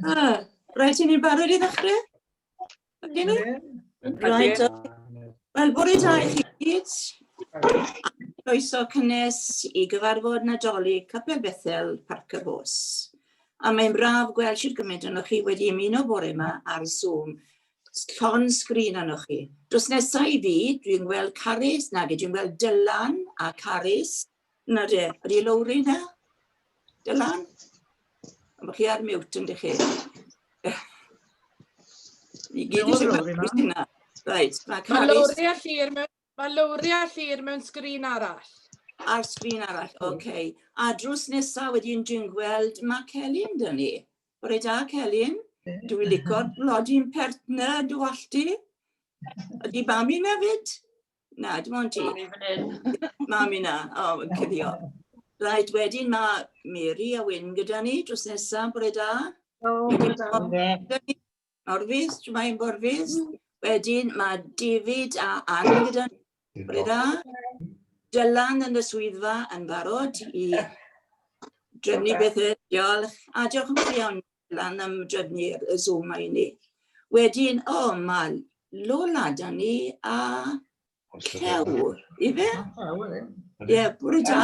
Ah, rhaid i ni'n barod i ddechrau? Ydyn ni? Rhaid. Wel, bore da i chi gyd. Croeso cynnes i gyfarfod Nadolig Capel Bethel Parc y Bos. A mae'n braf gweld sydd gymaint o'n chi wedi ymuno bore yma ar Zoom. Llon sgrin o'n chi. Dos nesau i fi, dwi'n gweld Carys, nag dwi'n gweld Dylan a Carys. Na de, ydy Lowri na? Dylan? Mae chi ar mute yn dych chi. Ni gyd i sefyll yna. Reit, mae Caris... Mae Lowri a Llyr mewn, mae Lowri a Llyr mewn sgrin arall. Ar sgrin arall, oce. Okay. A drws nesaf wedyn dwi'n gweld mae Celyn dyn ni. Bore da, Celyn. Dwi'n licor blodi'n pertner, dwi allti. Ydy Bami nefyd? Na, dim ond ti. Mami fan hyn. Mami na, o, oh, yn cuddio. Rhaid, wedyn mae Mary a Wyn gyda ni drws nesaf, bore da. O, bore da. Orfus, ti'n mae'n borfus. Mm. Wedyn mae David a Anne gyda ni. Bore da. Dylan yn y swyddfa yn barod i drefnu bethau. Diolch. A diolch yn fawr iawn lan am drefnu'r Zoom mae i ni. Wedyn, o, oh, mae Lola da ni a Cew, i fe? Ie, bwrw da.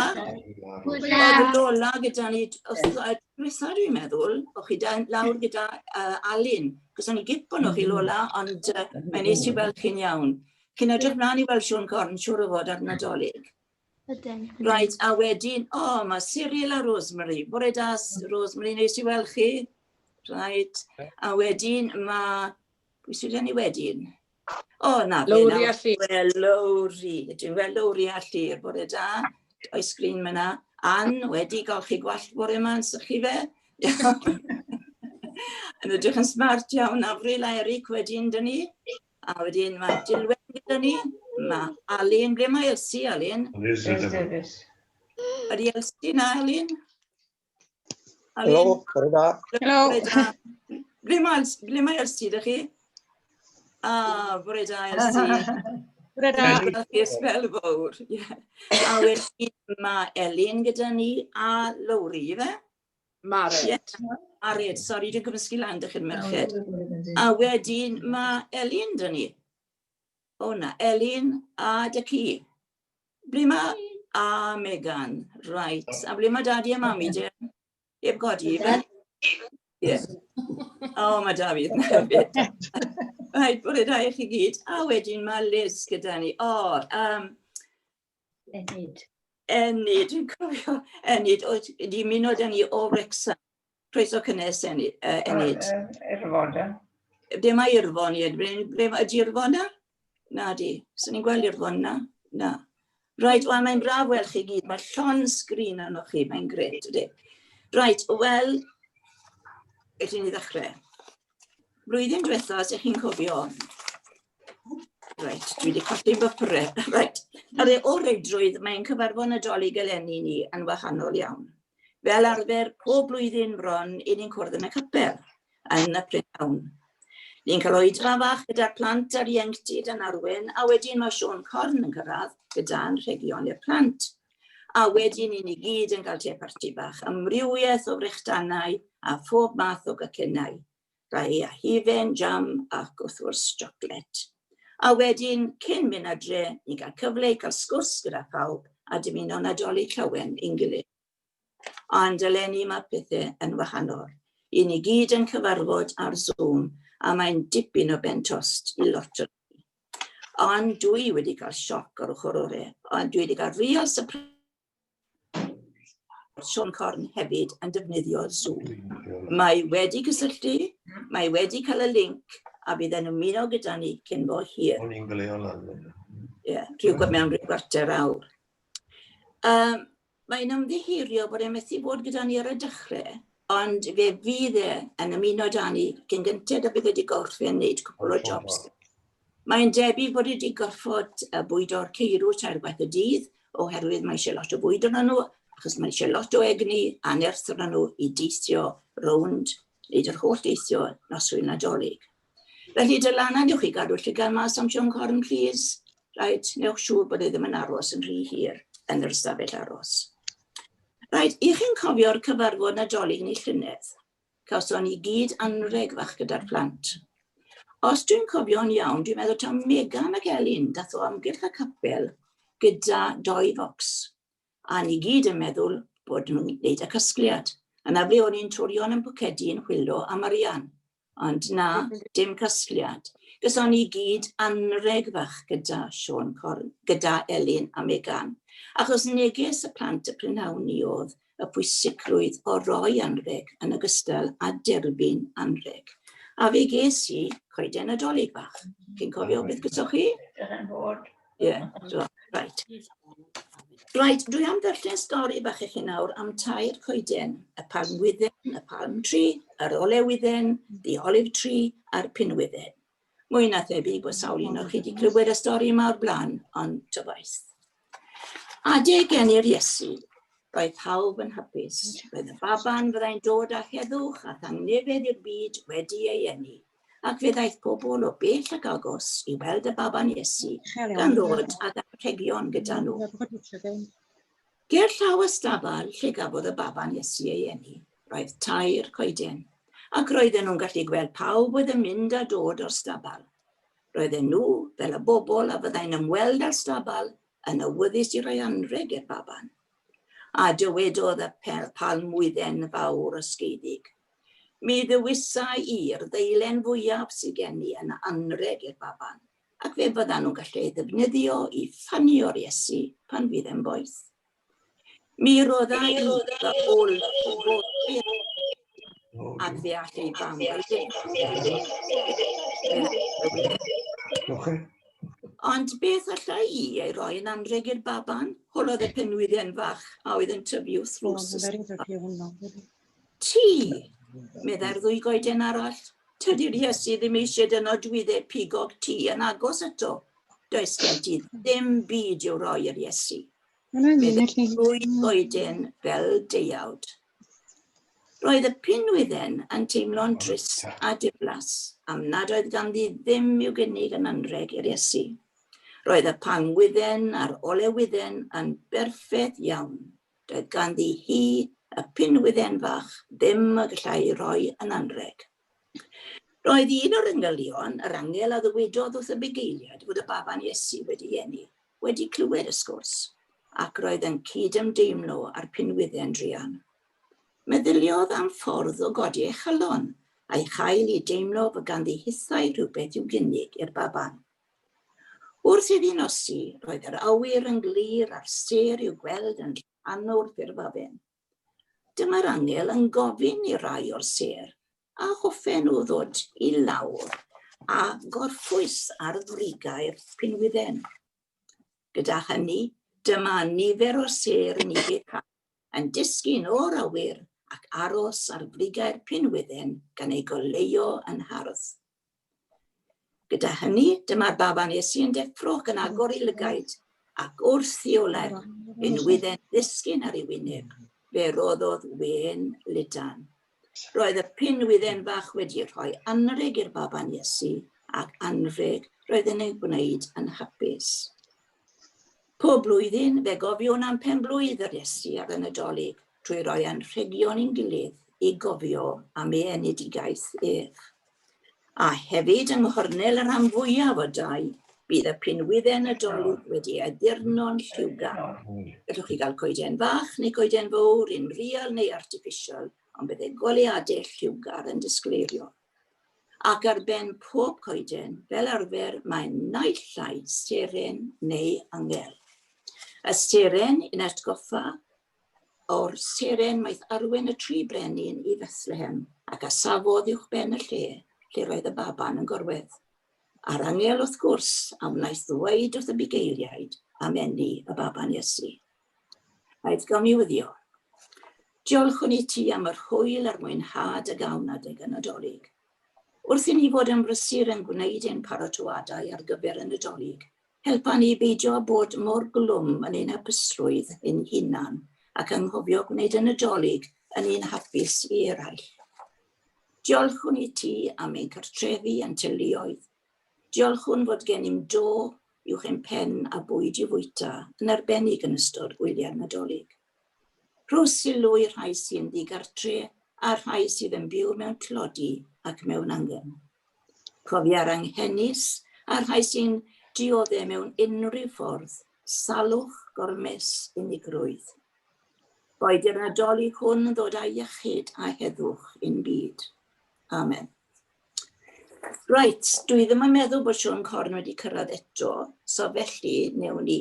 Bwrw da. Lola gyda ni, os ydwyd dwytha dwi'n meddwl, o chi da lawr gyda uh, Alun, cos o'n i gipon o chi Lola, ond uh, mae'n nes i weld chi'n iawn. Chi'n edrych mlaen i weld Siôn Corn, siwr o fod ar Nadolig. Ydyn. Right, a wedyn, o, oh, mae Cyril a Rosemary. Bore da, Rosemary, neis i weld chi. Right, a wedyn mae... Pwy sydd gen i wedyn? O, oh, na, Lowri a Llyr. Wel, Lowri. Dwi'n gweld Lowri a Llyr. Bore da. O'i sgrin myna. Ann, wedi golchi gwallt bore yma yn sychu fe. yn ydych yn smart iawn. Avril a Eric wedyn, dyn ni. A wedyn mae Dilwyn gyda ni. Mae Alun. Ble mae Elsie, Alun? Elsie Davies. Ydy Elsie na, Alun? Helo, bore da. Helo. Ble mae, ble mae Elsie, da chi? A, bore da, Elsie. Bore da. Gracias fel fawr. A wedyn mae Elin gyda ni a Lowri, fe? Mared. Ie, Mared, sori, dwi'n gymysgu lan dych chi'n merched. A wedyn mae Elin dyn ni. O na, Elin a Dyci. Ble mae... A Megan, reit. A ble mae dadi a mami, de? Heb godi. Ie. O, mae David na hefyd. Rhaid bod e da i chi gyd. A wedyn mae Liz gyda ni. O, um, Enid. Enid, dwi'n cofio Enid, oedd wedi muno da ni o Wrecsam. Croeso cynnes, Enid. Uh, Enid. Uh, Irfon, e? Ble mae Irfon, ie? Ble mae Irfon na? Na di, sy'n ni'n gweld Irfon na? Na. Rhaid, wel, mae'n braf weld chi gyd. Mae llon sgrin arno chi, mae'n gret, ydy. Rhaid, wel, ydyn ni ddechrau. Blwyddyn diwetha, os ydych chi'n cofio, Reit, dwi wedi colli fy pyrre. Reit, ar ei o reidrwydd, mae'n cyfarfod Nadolig eleni ni yn wahanol iawn. Fel arfer, pob blwyddyn bron, i ni'n cwrdd yn y capel, yn y prynhawn. Ni'n cael oed ma fach gyda'r plant a'r ieuenctid yn arwen, a wedyn mae Sean Corn yn cyrraedd gyda'n rhegion i'r plant. A wedyn i ni gyd yn cael te parti bach, amrywiaeth o frechdanau a phob math o gacennau. Da i a hufen jam ac wrth gwrs siocled. A wedyn, cyn mynd adre, ni'n cael cyfle i cael sgwrs gyda phawb a dymuno Nadolig llawen i'n gilydd. Ond eleni mae pethau yn wahanol. I ni gyd yn cyfarfod ar Zoom a mae'n dipyn o ben tost i lot o Ond dwi wedi cael sioc o'r ochr ore, ond dwi wedi cael real surprise Siôn Corn hefyd yn defnyddio Zoom. Mae wedi cysylltu, mae wedi cael y link a bydd e'n ymuno gyda ni cyn bo hir. O'n i'n gleo lan. Ie, rhywbeth mewn rhyw gwarter awr. Um, mae'n ymddiherio bod e'n methu bod gyda ni ar y dechrau, ond fe fydd e yn ymuno da ni cyn gynted a bydd wedi gorffen wneud cwpl o jobs. Mae'n debyg bod wedi gorfod bwydo'r ceirw tair gwaith y dydd oherwydd mae eisiau lot o fwyd arnyn nhw, achos mae eisiau lot o egni a nerth arnyn nhw i deithio rownd, wneud yr holl deithio noswyl Nadolig. Felly dylana newch chi gadw llygad mas am Siôn Corn, please. Rhaid, newch siŵr bod e ddim yn aros yn rhy hir yn yr ystafell aros. Rhaid, i chi'n cofio'r cyfarfod Nadolig ni llynedd, Cawson ni gyd anrheg fach gyda'r plant. Os dwi'n cofio'n iawn, dwi'n meddwl taw Megan ac Elin dath o amgylch y capel gyda doi focs. A ni gyd yn meddwl bod nhw'n gwneud y casgliad. Yna ble o'n i'n twrion yn pwcedi yn chwilo am arian. Ond na, dim casgliad. Gyson ni gyd anreg fach gyda Siôn Corn, gyda Elin a Megan. Achos neges y plant y prynhawn ni oedd, y pwysigrwydd o roi anrheg yn ogystal â derbyn anrheg. A fe ges i coeden Nadolig bach. Chi'n cofio beth gysoch chi? Ie, so, right. Right, dwi am ddarllen stori bach i chi nawr am tair coeden, y palm wydden, y palm tree, yr olewydden, the olive tree, a'r pinwydden. Mwy na thebyg bod sawl un o'ch chi wedi clywed y stori yma o'r blaen, ond tyfaith. Adeg gen i'r Iesu, roedd pawb yn hapus. Roedd y baban fyddai'n dod â heddwch a thangnefedd i'r byd wedi ei enni, ac fe ddaeth pobl o bell ac agos i weld y baban Iesu, gan ddod ag anrhegion gyda nhw. Ger llaw y stabal lle gafodd y baban Iesu ei eni, roedd tair coeden, ac roedden nhw'n gallu gweld pawb oedd yn mynd a dod o'r stabal. Roedden nhw, fel y bobl a fyddai'n ymweld â'r stabal, yn awyddus i roi anrheg i'r baban. A dywedodd y pel palmwydden fawr ysgeiddig, Mi ddewisa i'r ddeilen fwyaf sydd gen i yn anrheg i'r baban. ac fe fyddan nhw'n gallu ei ddefnyddio i ffanio'r Iesu pan fydd e'n boeth. Mi rodda i fy ôl ac fe all ei fam Ond beth allai i ei roi yn anreg i'r baban? Holodd y penwydden fach a oedd yn tyfu wrth ddrws. Ti! meddai'r ddwy goeden arall. Tydi'r Iesu ddim eisiau dy nodwydde pigog ti yn agos ato. Does gen ti ddim byd i'w roi i'r Iesu. Meddai'r ddwy goeden fel deuawd. Roedd y pinwydden yn teimlo'n drist a diflas am nad oedd ganddi ddim i'w gynnig yn anreg i'r Iesu. Roedd y pangwydden a'r olewydden yn berffedd iawn. Doedd ganddi hi y pinwydden fach ddim y gallai'i roi yn anrheg. Roedd un o'r engylion, yr angel a ddywedodd wrth y bugeiliad fod y baban Iesu wedi eni, wedi clywed y sgwrs, ac roedd yn cyd-ymdeimlo â'r pinwydden druan. Meddyliodd am ffordd o godi ei chalon, a'i chael i deimlo fod ganddi hithau rhywbeth i'w gynnig i'r baban. Wrth iddi nosi, roedd yr awyr yn glir a'r sêr i'w gweld yn rhannw'r ffurfafin. Dyma'r angel yn gofyn i rai o'r sêr a hoffen nhw ddod i lawr a gorffwys ar frigau'r pinwydden. Gyda hynny, dyma nifer o sêr yn Ibica yn disgyn o'r awyr ac aros ar frigau'r pinwydden gan eu goleuo yn hardd. Gyda hynny, dyma'r baban Iesu yn deffro ac yn agor ei lygaid, ac wrth ddioled, yn wydden ddisgyn ar ei wyneb, fe roddodd wen ludan. Roedd y pin wydden fach wedi rhoi anreg i'r baban Iesu, ac anreg roedd yn ei gwneud yn hapus. Pob blwyddyn, fe gofiwn am pen blwydd yr Iesu ar y Nadolig, trwy roi anrhegion i'n gilydd i gofio am ei enedigaeth ef. a hefyd yng nghornel y rhan fwyaf o dai, bydd y pinwydden Nadolig wedi addurno'n lliwgar. Gallwch chi gael coeden fach neu goeden fawr, un real neu artiffisial, ond bydd ei goleadau lliwgar yn disgleirio. Ac ar ben pob coeden, fel arfer, mae naill ai seren neu angel. Y seren yn atgoffa o'r seren maeth arwen y tri brenin i Fethlehem, ac a safodd uwch ben y lle, lle roedd y baban yn gorwedd. A'r angel, wrth gwrs, a wnaeth ddweud wrth y bugeiliaid am enni y baban Iesu. Aeth gawn i wyddio. Diolch i ti am yr hwyl a'r mwynhad y gawn adeg yn adolyg. Wrth i ni fod yn brysur yn gwneud ein paratoadau ar gyfer y Nadolig, Helpa ni beidio â bod mor glwm yn ein hapusrwydd ein hunan ac anghofio gwneud y Nadolig yn un hapus i eraill. Diolchwn i ti am ein cartrefi a'n teuluoedd. Diolchwn fod gennym do uwch ein pen a bwyd i fwyta, yn arbennig yn ystod gwyliau'r Nadolig. Rho sylw i'r rhai sy'n ddigartre a'r rhai sydd yn byw mewn tlodi ac mewn angen. Cofia'r anghenus a'r rhai sy'n diodde' mewn unrhyw ffordd, salwch, gormes, unigrwydd. Boed i'r Nadolig hwn yn ddod â iechyd a heddwch i'n byd. Amen. Right, dwi ddim yn meddwl bod Siôn Corn wedi cyrraedd eto, so felly newn ni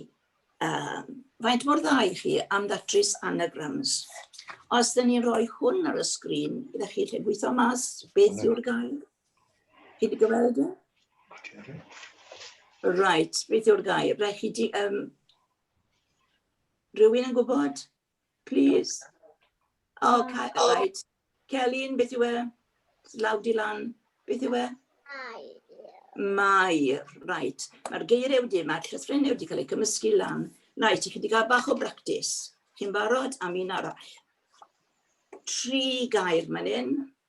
Yym, faint mor dda i chi am ddatrys anagrams? Os dyn ni'n rhoi hwn ar y sgrin, ydych chi'n lle gweithio mas beth yw'r gair? Chi wedi gweld e? Right, beth yw'r gair? Rhaid chi di... Um, rhywun yn gwybod? Please. Oh, okay, oh. right. Celyn, beth yw e? Law di lan. Beth yw e? Mai. Right. Mae'r geiriau wedi, mae'r llythrenau wedi cael eu cymysgu lan. Right, chi wedi cael bach o bractis. Chi'n barod am un arall? Tri gair man hyn.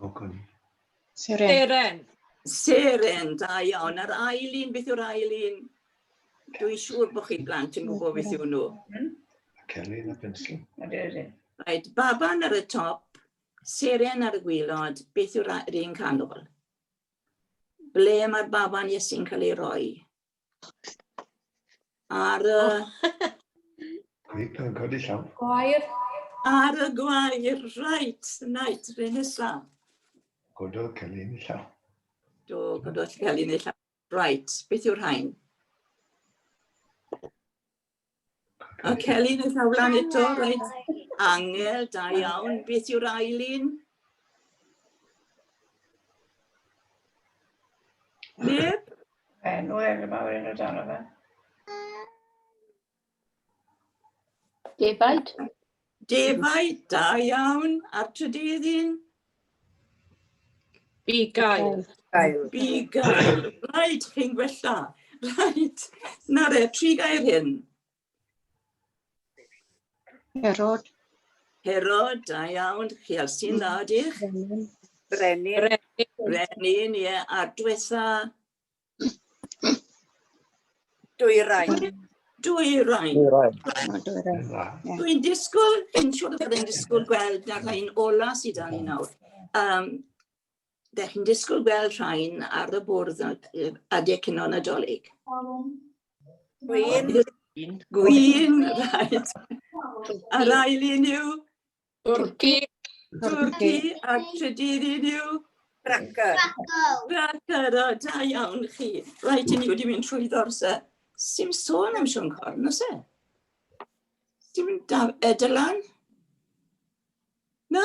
O, Connie. Seren. Seren. Seren, da iawn. A'r ail un, beth yw'r ail un? Dwi'n siŵr bod chi'n blant yn gwybod beth yw nhw. Kelly yn y pensl. Right, baban ar y top, seren ar y gwylod, beth yw'r un canol? Ble mae'r baban Iesu'n cael ei roi? Ar y... Reit, yn codi llaw. Gwair. Ar y gwair, reit, reit, fe nesa. Gododd Celyn i llaw. Do, gododd Celyn i llaw. Reit, beth yw'r rhain? A Celyn yn llaw lan eto, reit. Angel, da iawn. Beth yw'r ail un? Neb? E, Noel, y mawr un o dan o fe. Defaid. Defaid da iawn a'r trydydd un? Bi gael. Gael. Bi gael. Rhaid chi'n gwella. Rhaid. Na re, tri gair hyn. Herod. Herod, da iawn. Chi al sy'n dda, diolch. Brenin. Brenin, ie. A'r diwetha? Dwyrain. Dwyrain. Dwyrain. Dwi'n disgwyl, dwi'n siŵr bod yn disgwyl gweld na rhain ola sydd dan ni nawr. Um, da chi'n disgwyl gweld rhain ar y bwrdd adeg cyn o'n adolyg. Gwyn. Gwyn, rhaid. A'r ail un yw Turkey. Turkey a trydydd un yw? Cracker. Cracker, o da iawn chi. Rhaid i ni wedi mynd trwy ddorse. Sim sôn am Siôn Corn, os e? Dim da, e, Dylan? Na.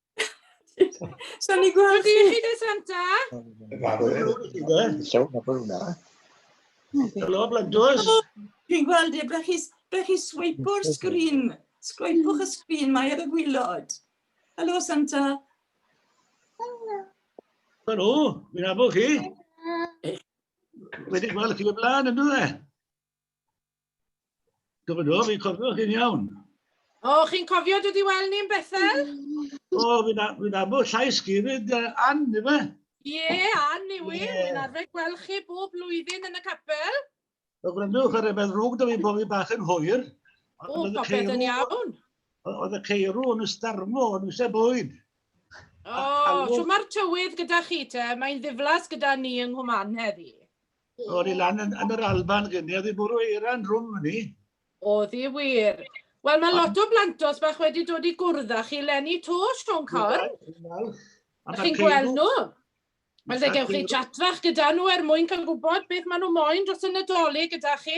So ni gweld chi. Rydyn ni Santa. Helo, Bladwrs. Dwi'n gweld e, beth chi, beth chi swipo'r sgrin. Sgwipwch y sgrin, mae ar y gwylod. Helo, Santa. Helo, fi'n abo chi. Wedi gweld chi o blaen, ynddo e? Do, do, fi'n cofio chi'n iawn. O, chi'n cofio dod i weld ni'n Bethel? O, fi'n fi abo llais chi, fyd uh, Ann, yma. Ie, yeah, Ann i wi. Yeah. Fi'n arfer gweld chi bob blwyddyn yn y capel. O, gwrandwch ar y beth rhwg, da fi bofi bach yn hwyr. O, popeth yn iawn. Oedd y ceirw yn ystarmo, yn eisiau bwyd. O, oh, so mae'r tywydd gyda chi te, mae'n ddiflas gyda ni yng Nghwman heddi. O'n i lan yn, yn yr Alban gynnu, oedd i bwrw eiran rhwng hynny. Oedd i wir. Wel, mae lot o blantos bach wedi dod i gwrdd â chi lenni to, Sean Corn. Ydych chi'n gweld nhw? Wel, fe gewch chi chat fach gyda nhw er mwyn cael gwybod beth maen nhw moyn dros y Nadolig gyda chi.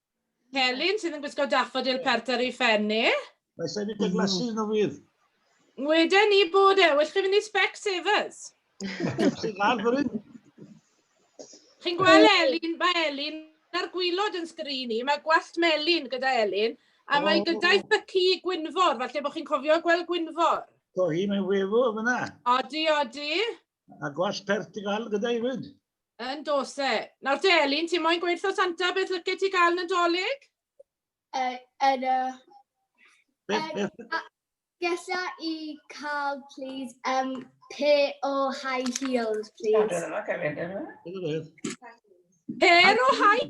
Celyn sydd yn gwisgo daffodil pert ar ei phen e. Mae sa'i wedi glasu yn o fydd. Mweden ni bod e, well chi fynd i Specsavers. Sy'n dda fan hyn. Chi'n gweld Elin, mae Elin ar gwylod yn sgrin i, mae gwallt melin gyda Elin, a oh. mae gyda'i thycu Gwynfor, falle bod chi'n cofio gweld Gwynfor. Do hi, mae'n wefo fyna. Odi, odi. A gwas pert ti gael gyda i fyd? Yn dos e. Nawr te, Elin, ti moyn gweithio Santa, beth lycet ti gael yn dolyg? Yn y... Beth, beth? Gesa i cael, please, um, pe o high heels, please. Pe o high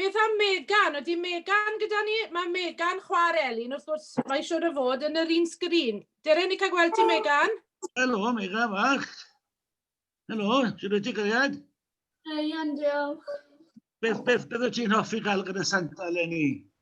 Beth am Megan? Ydy Megan gyda ni? Mae Megan chwa'r Elin, wrth gwrs, mae siwr o fod yn yr un sgrin. Dere, ni cael gweld ti, Megan? Helo, Megan fach. Helo, sy'n rhaid ti gariad? Ia'n diolch. Beth, beth, beth wyt ti'n hoffi gael gyda Santa, Lenny?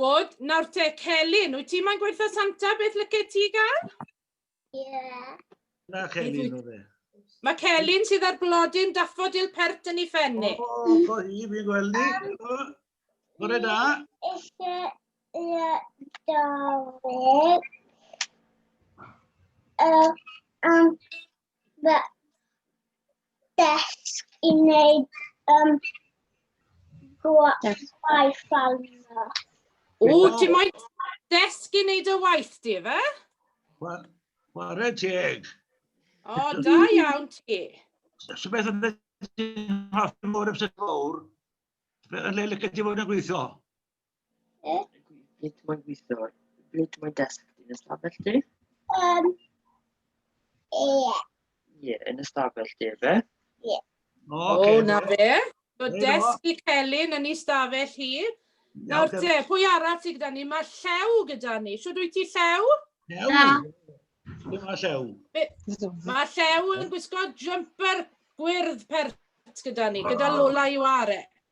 Good. Nawr te, Celyn, wyt ti mae'n gweithio Santa? Beth lyce ti gael? Ie. Yeah. Na, Celyn o fe. Mae Celyn sydd ar blodyn daffodil pert yn ei ffenni. O, oh, o oh, hi, fi'n gweld ni. Um, Bore da. Eisiau Nadolig. Um, um, fy desg i wneud um, gwaith arno. O, dim moyn desg i wneud y waith, di fe? Ware teg. O, da iawn ti. So beth yna ti'n hoffi mor ymsyn fawr, yn le lycad ti fod yn gweithio? Ie. Sut mae'n gweithio? Sut mae'n desg ti? Yn ystafell ti? Um, ie. Ie, yn ystafell ti, fe? Ie. O, okay, oh, na fe. So desg i Celyn yn ei stafell hi. Nawr te, pwy arall sydd gyda ni? Mae Llew gyda ni. Siwr wyt ti Llew? Llew? Na. Dim mae Llew. Mae Llew yn gwisgo jumper gwyrdd pert gyda ni, gyda Lola i ware.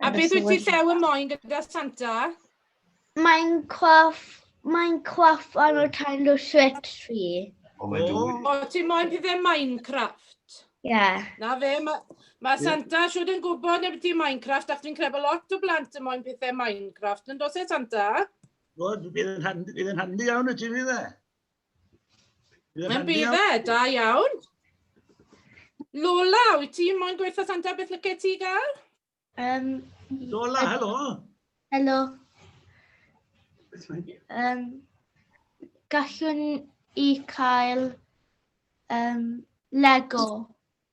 A beth wyt ti llew y moyn gyda Santa? Mae'n coff, mae'n coff o'n o'r taen o swet fi. O, mae'n dwy. O, ti moyn pethau Minecraft? Ie. Yeah. Na fe, mae ma Santa siwr yn gwybod neu beth i Minecraft, ac fi'n credu bod lot o blant yn moyn pethau Minecraft, yn dos e Santa? Wel, bydd yn handi iawn y ti fi dde. Mae'n bydd e, da iawn. Lola, wyt ti moyn gweithio Santa, beth lyce ti gael? Um, Lola, helo. Helo. Um, gallwn i cael um, Lego.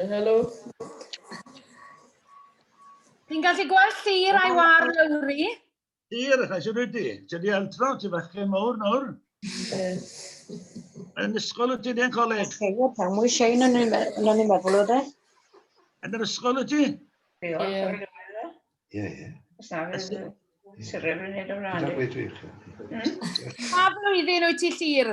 Helo. Ti'n gallu gweld llir a'i war lawri? Llir, chas ydw wedi. Ti wedi aldro, ti fachgen mawr nawr. Yn ysgol wyt ti, neu yn coleg? Sefio pan mwy Shane yn ni'n meddwl o dde. Yn yr ysgol wyt ti? Ie, ie. Syrwyr yn neud o flaen. Pa flwyddyn wyt ti llir?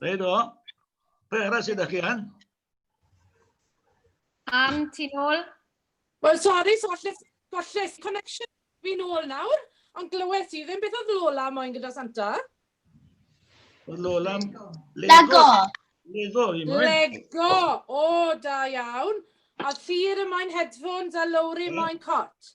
Rhaid o. Be arall sydd â chi an? Am ti nôl? Wel, sori, so lles, golles connection fi nôl nawr, ond glywes i ddim beth oedd Lola moyn gyda Santa. Oedd Lola... Lego. Lego, i moyn. Lego, o, da iawn. A Thir y moyn headphones a Lowry moyn cot.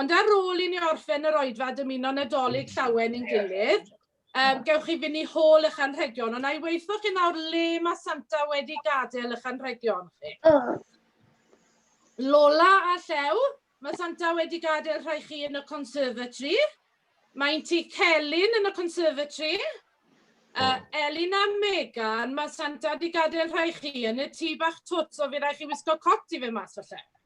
Ond ar ôl i ni orffen yr oedfa dymuno Nadolig llawen i'n gilydd, um, gewch chi fynd i hôl eich anrhegion, ond a'i weithio chi nawr le mae Santa wedi gadael eich anrhegion chi. Lola a Llew, mae Santa wedi gadael rhai chi yn y conservatory. Mae'n ti Celyn yn y conservatory. Uh, Elin a Megan, mae Santa wedi gadael rhai chi yn y tŷ bach twt, so fi rai chi wisgo cot i fe mas o lle.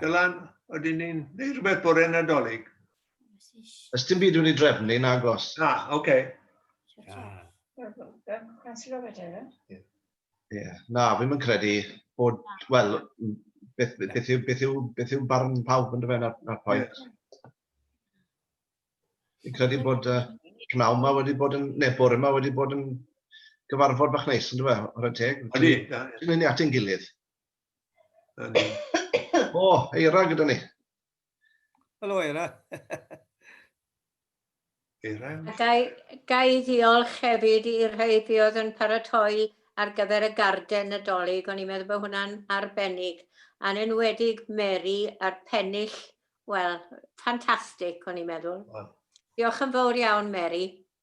Dylan, oedden ni'n neud rhywbeth bore nadolig? Ys dim byd wedi drefnu, na gos. Na, oce. Okay. Yeah. Na, fi'n mynd credu bod, wel, beth, beth, beth, yw, beth, yw, beth yw barn pawb yn dyfa na'r pwynt. Fi'n credu bod uh, pnaw yma wedi bod yn, neu bore yma wedi bod yn gyfarfod bach neis yn dyfa, o'r teg. Ydy. Ti'n mynd i ati'n gilydd. O, Eira gyda ni. Helo, Eira. Eira. Gai, gai ddiolch hefyd i'r rhai fi oedd yn paratoi ar gyfer y garden nadolig, o'n i'n meddwl bod hwnna'n arbennig, a'n enwedig Mary a'r pennill, wel, ffantastig, o'n i'n meddwl. Diolch yn fawr iawn, Mary.